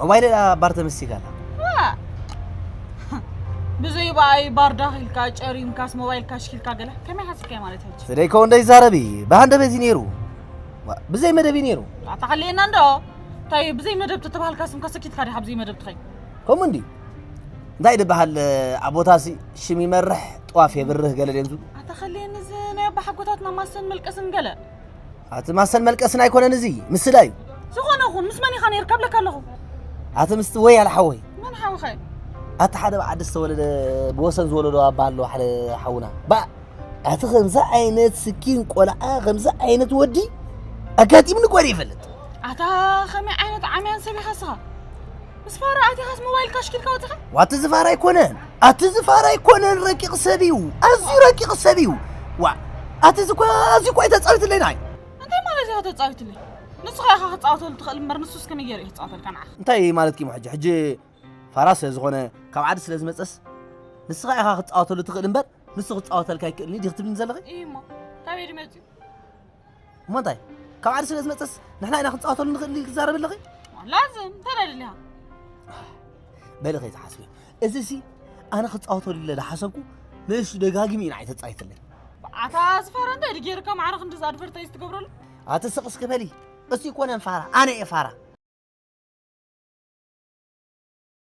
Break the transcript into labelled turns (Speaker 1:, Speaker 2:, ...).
Speaker 1: እዋይ ሌላ ባር ተመሲጋ ኣላ
Speaker 2: ብዘይ በኣይ ባር ዳኺልካ ጨሪምካስ ሞባይልካ ሽኪልካ ገለ ከመይ ሓሲብካዮ ማለት ሕጂ ስደይከው እንደይዛረቢ
Speaker 1: ብሃንደበት እዩ ነይሩ ዋ፣ ብዘይ መደብ እዩ ነይሩ ኣታሓልየና እንዶ
Speaker 2: እንታይ ብዘይ መደብ ተተባሃልካ ስምካ ሰኪትካ ዲኻ ብዘይ መደብ ትኸይ ከምኡ እንዲ
Speaker 1: እንታይ ድበሃል ኣብ ቦታሲ ሽም ይመርሕ ጥዋፍ የብርህ ገለ ድዮም ዝብሉ ኣታኸልየኒ እዚ
Speaker 2: ናይ ኣባሓጎታትና ማሰን መልቀስን ገለ ኣቲ ማሰን
Speaker 1: መልቀስን ኣይኮነን እዚ ምስላ እዩ ዝኾነ ይኹን ምስ
Speaker 2: መን ኢኻ ነይርካ ብለካ ኣለኹ ኣቲ ምስቲ ወይ
Speaker 1: ኣለ ሓወይ መን ሓውኸ
Speaker 2: ኣቲ ሓደ ብዓዲ
Speaker 1: ዝተወለደ ብወሰን ዝወለዶ ኣባ ኣሎ ሓደ ሓውና ባ ኣቲ ከምዚ ዓይነት ስኪን ቆልዓ ከምዚ ዓይነት ወዲ ኣጋጢምኒ ቆሪ ይፈልጥ ኣታ ከመይ
Speaker 2: ዓይነት ዓምያን ሰብ ኢኻ ስኻ ምስ ፋራ ኣቲኻስ ሞባይል ካሽኪልካ ወፂኻ ዋቲ ዝፋራ ኣይኮነን
Speaker 1: ኣቲ ዝፋራ ኣይኮነን ረቂቕ ሰብ እዩ ኣዝዩ ረቂቕ ሰብ እዩ ዋ ኣቲ ዝኳ ኣዝዩ ኳ ተፃዊትለይና እዩ እንታይ ማለት እያ
Speaker 2: ተፃዊትለይ ንስኻ ኢኻ ክፃወተሉ ትኽእል እምበር ንሱስ ክንየር እዩ ክፃወተልካ ንዓኻ እንታይ ማለት ኪሞ ሕጂ
Speaker 1: ሕጂ ፋራ ስለ ዝኾነ ካብ ዓዲ ስለ ዝመፀስ ንስኻ ኢኻ ክፃወተሉ ትኽእል እምበር ንሱ ክፃወተልካ ኣይክእልን እዩ ዲኽ ትብልኒ ዘለኺ እዩ እሞ ካበይ
Speaker 2: ድመፅኡ
Speaker 1: እሞ እንታይ ካብ ዓዲ ስለ ዝመፀስ ንሕና ኢና ክንፃወተሉ ንኽእል ኢልኪ ትዛረቢ ኣለኺ ላዝም እንታይ
Speaker 2: ደልያ
Speaker 1: በሊ ከይትሓስቢ እዚ ሲ ኣነ ክፃወተሉ ኢለ ዝሓሰብኩ ንእሱ ደጋጊሙ ኢና ኣይተፃይትለይ ኣታ ዝፋራ
Speaker 2: እንታይ ድዩ
Speaker 1: ጌርካ ማዕረ
Speaker 2: ክንዲዚ
Speaker 1: ኣድቨርታይዝ
Speaker 2: ትገብረሉ ኣትስቕ
Speaker 1: እስኪ በሊ እሱ ይኮነን
Speaker 2: ፋራ
Speaker 1: ኣነ እየ
Speaker 2: ፋራ